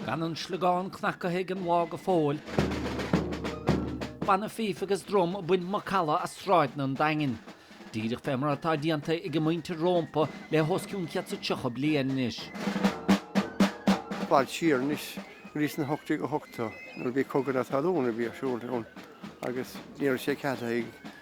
Gan an sliogán cnagaithe ag an lá go fóill. Banna fíf agus drum ag baint macalla as sráideanna an Daingin, díreach fé mar atá déanta ag a muintir rómpa le hos cionn céad is tríocha bliain anois. Fad siar anois, go dtí sna hocht déag ochtó, nuair a bhí cogadh na talún a bhí ar siúl ann agus ní raibh sé ceadaithe ag.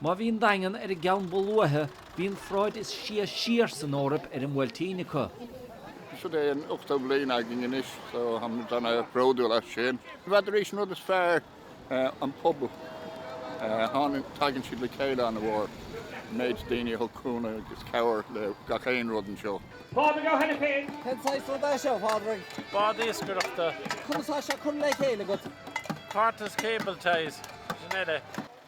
Má bhí an Daingean ar an gceann ba luaithe, bhí an pharáid is sia siar san Eoraip ar an mBuailtín acu. Seo é an ochtú bliain againn anois so táimid ana bhródúil as sin. Bheadh arís an rud is fearr an pobal. Tháinig, tagann siad le chéile ana mhór, an méid daoine a thug cúnamh agus cabhair le gach aon rud anseo. Pádraig Ó hAiniféin. Cén saghas rud é seo, a Phádraig? Bád iascaireachta. Conas tá sé curtha le chéile agat? Parts, cable ties, sin uile.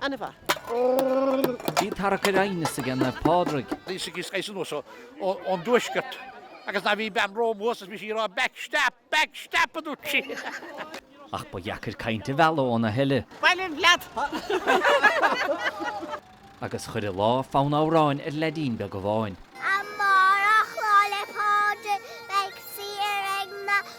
Ana mhaith. Bhí tarrac ar aighneas aige Naomh Pádraig. Bhí Siggy Skaife anuas ón dtuaisceart agus ná bhí bean romham thuas is bhí sí ag rá Back step! Back step! a dúirt sí. Ach ba dheacair caint a mhealladh ó naomh eile. Bailigh leat! Agus chuir an lá fonn amhráin ar leaidín beag amháin. Amárach Lá 'le Pádraig beidh saoire ag na